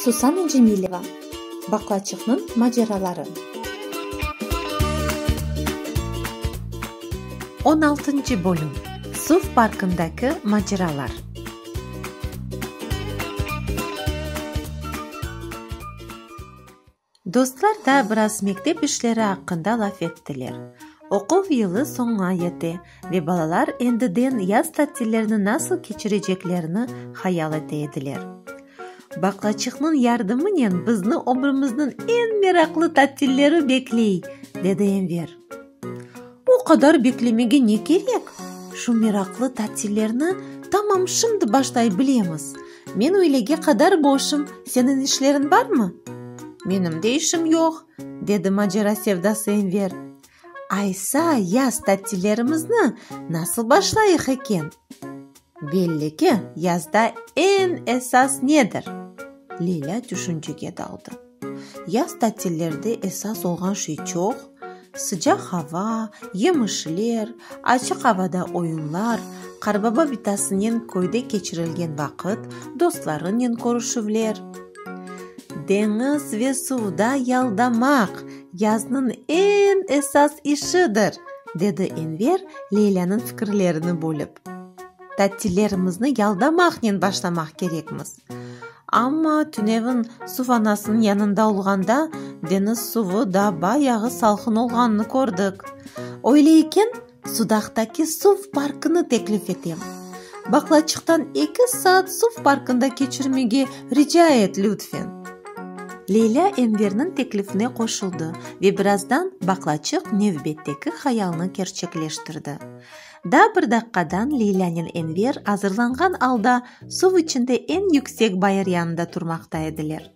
Susana Cemileva, Baqlaçıqnıñ maceraları. On altıncı bölüm, Suv parkındaki maceralar. Dostlar da biraz mektep işleri aqqında laf ettiler. Oquv yılı soña yete ve balalar endiden yaz tatillerini nasıl keçireceklerini hayal ete ediler. Baqlaçıqnıñ yardımınen bizni ömrümizniñ eñ meraqlı tatilleri bekley, dedi Enver. O qadar beklemege ne kerek? Şu meraqlı tatillerni tamam şimdi başlay bilemiz. Men öylege qadar boşum, seniñ işleriñ barmı? Menim de işim yoq, dedi macera sevdası Enver. Aysa, yaz tatillerimizni nasıl başlayıq eken? Belli ki, yazda eñ esas nedir? Leyla tüşünçege daldı. Yaz tatillerde esas olğan şey çoq, sıcaq hava, yemişler, açıq avada oyunlar, qarbaba bitasınen köyde keçirilgen vaqıt, dostlarınen körüşüvler. Deñiz ve suvda yaldamaq, yaznıñ eñ esas işidir, dedi Enver Leylânıñ fikirlerini bölip. Tatillerimizni yaldamaqnen başlamaq kerekmiz. Amma tünevin suv anasınıñ yanında olğanda, deñiz suvı da bayağı salqın olğanını kördik. Öyle eken, Sudaqtaki suv parkını teklif etem. Baqlaçıqtan eki saat suv parkında keçirmege rica et, lütfen. Leylâ Enverniñ teklifine qoşuldı ve birazdan Baqlaçıq nevbetteki hayalını kerçekleştirdi. Da bir daqqadan Leylânen Enver azırlanğan alda suv içinde eñ yüksek bayır yanında turmaqta ediler.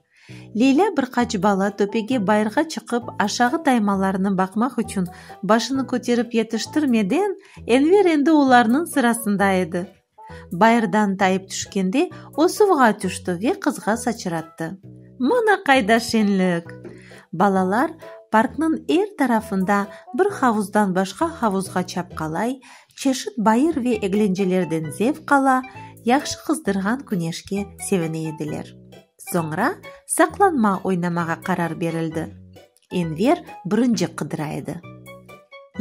Leylâ bir qaç bala töpege bayırğa çıqıp aşağı taymalarını baqmaq içün başını köterip yetiştirmeden, Enver endi olarnıñ sırasında edi. Bayırdan tayıp tüşkende, o suvğa tüşti ve qızğa saçrattı. Mına qayda şenlik! Balalar parknıñ er tarafında bir havuzdan başqa havuzğa çapqalay, çeşit bayır ve eglencelerden zevq ala, yahşı qızdırğan küneşke sevine ediler. Soñra saqlanma oynamağa qarar berildi. Enver birinci qıdıra edi.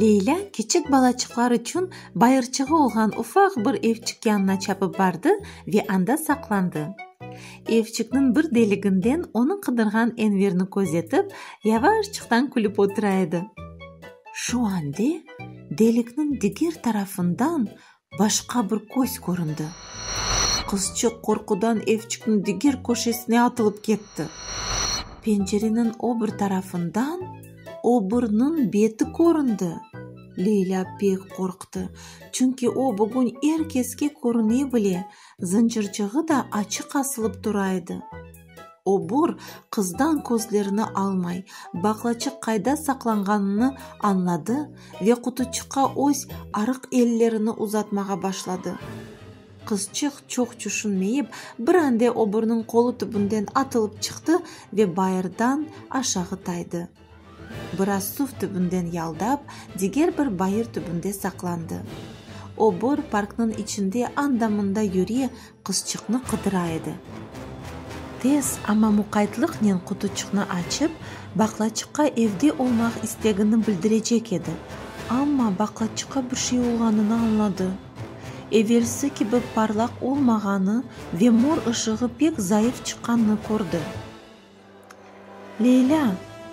Leylâ kiçik balaçıqlar içün bayırçığı olğan ufaq bir evçik yanına çapıp bardı ve anda saqlandı. Evçikniñ bir deliginden onı qıdırğan Enverni közetip, yavaşçıqtan külip otura edi. Şu ande delikniñ diger tarafından Başqa bir köz köründi. Qızçıq qorqudan evçikniñ diger köşesine atılıp ketti. Pencereniñ o bir tarafından o birniñ beti köründi. Leylâ pek qorqtı, çünki o bugün er keske körüne bile, Zıncırçığı da açıq asılıp tura edi. Obur, qızdan közlerini almay, baqlaçıq qayda saqlanğanını añladı ve qutuçıqqa öz arıq ellerini uzatmağa başladı. Qızçıq çoq çüşünmeyip, bir ande oburnıñ qolu tübünden atılıp çıqtı ve bayırdan aşağı taydı. Biraz suv tübünden yaldap, diger bir bayır tübünde saqlandı. O bor parknıñ içinde anda-mında yüre, qızçıqnı qıdıra edi. Tez, amma muqaytlıqnen qutuçıqnı açıp, baqlaçıqqa evde olmaq istegini bildirecek edi, amma baqlaçıqqa bir şey olğanını añladı. Evelsi kibi parlaq olmağanı ve mor ışığı pek zayıf çıqqanını kördi. Leylâ,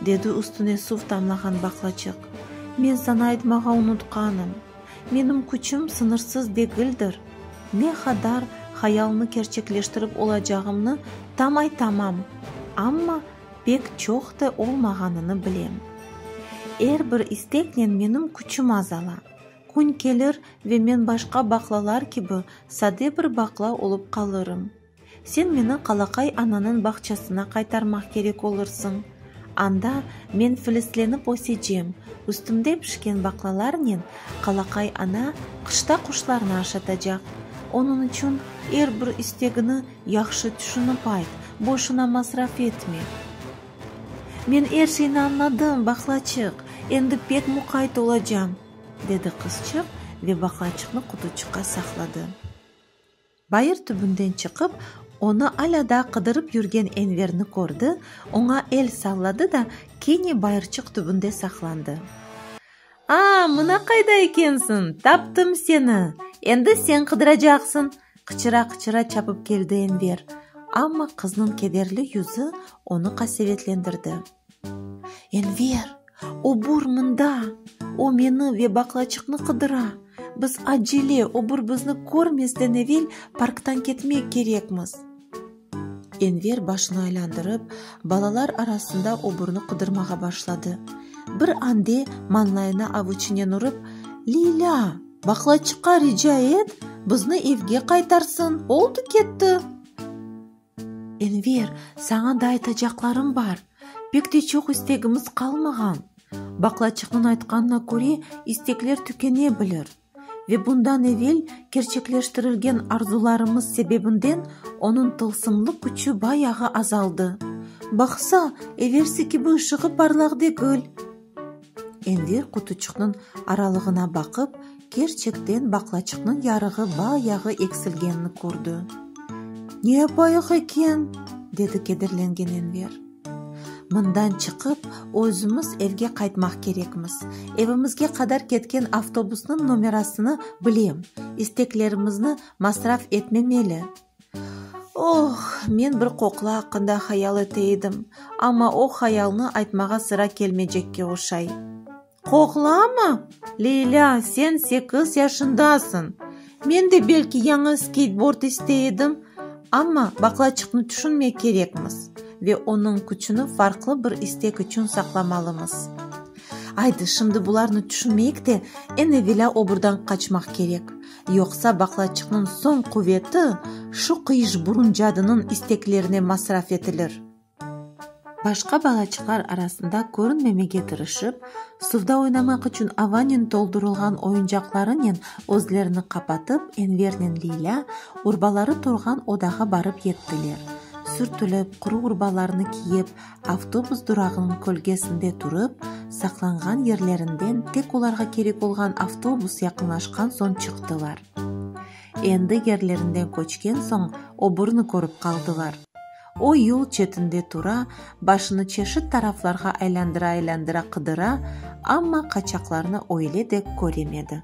dedi üstüne suv tamlağan baqlaçıq, men saña aytmağa unutqanım, menim küçüm sıñırsız degildir, ne qadar hayalnı kerçekleştirip olacağımnı tam aytamam, amma pek çoq te olmağanını bilem. Er bir isteknen menim küçüm azala, kün kelir ve men başqa baqlalar kibi sade bir baqla olıp qalırım. Sen meni Qalaqay ananıñ bağçasına qaytarmaq kerek olursıñ. Anda men filizlenip ösecem, üstümde pişken baqlalarnen Qalaqay ana qışta quşlarnı aşatacaq. Onıñ içün er bir istegini yahşı tüşünip ayt, boşuna masraf etme. Men er şeyni añladım, baqlaçıq, endi pek muqayt olacam, dedi qızçıq ve baqlaçıqnı qutuçıqqa saqladı. Bayır tübünden çıqıp, onı alâ daa qıdırıp yürgen Enverni kördi, oña el salladı da, kene bayırçıq tübünde saqlandı. A, mına qayda ekensiñ! Taptım seni! Endi sen qıdıracaqsıñ! qıçıra-qıçıra çapıp keldi Enver. Amma qıznıñ kederli yüzü onı qasevetlendirdi. Enver, obur mında! O meni ve baqlaçıqnı qıdıra. Biz acele, obur bizni körmezden evel parktan ketmek kerekmiz. Enver başını aylandırıp, balalar arasında oburnı qıdırmağa başladı. Bir ande mañlayına avuçinen urıp, Lilâ, baqlaçıqqa rica et, bizni evge qaytarsın, oldı-ketti! Enver, saña da aytacaqlarım bar, pek de çoq istegimiz qalmağan. Baqlaçıqnıñ aytqanına köre, istekler tükene bilir. Ve bundan evel kerçekleştirilgen arzularımız sebebinden onıñ tılsımlı küçü bayağı azaldı. Baqsa, evelsi kibi ışığı parlaq degil. Enver qutuçıqnıñ aralığına baqıp, kerçekten baqlaçıqnıñ yarığı ba yağı eksilgenini kördi. Ne yapayıq eken? dedi kederlengen Enver. Mından çıqıp, özümiz evge qaytmaq kerekmiz. Evimizge qadar ketken avtobusnıñ nomerasını bilem, isteklerimizni masraf etmemeli. Oh, men bir qoqla aqqında hayal ete edim, amma o hayalnı aytmağa sıra kelmeycekke oşay. Qoqlamı? Leylâ, sen sekiz yaşındasıñ. Men de belki yañı skeydbord istey edim, amma baqlaçıqnı tüşünmek kerekmiz ve onıñ küçüni farqlı bir istek içün saqlamalımız. Aydı, şimdi bularnı tüşünmeyik de, eñ evelâ oburdan qaçmaq kerek. Yoqsa baqlaçıqnıñ soñ quveti şu qıyışburun cadınıñ isteklerine masraf etilir. Başqa balaçıqlar arasında körünmemege tırışıp, suvda oynamaq içün avanen toldurılğan oyuncaqlarınen özlerini qapatıp, Envernen Leylâ urbaları turğan odağa barıp yettiler. Sürtülip, quru urbalarını kiyip, Avtobus durağınıñ kölgesinde turıp, saqlanğan yerlerinden tek olarğa kerek olğan avtobus yaqınlaşqan soñ çıqtılar. Endi yerlerinden köçken soñ obrni körip qaldılar. O yol çetinde tura, başını çeşit taraflarğa aylandıra-aylandıra qıdıra, amma qaçaqlarnı öyle de köremedi.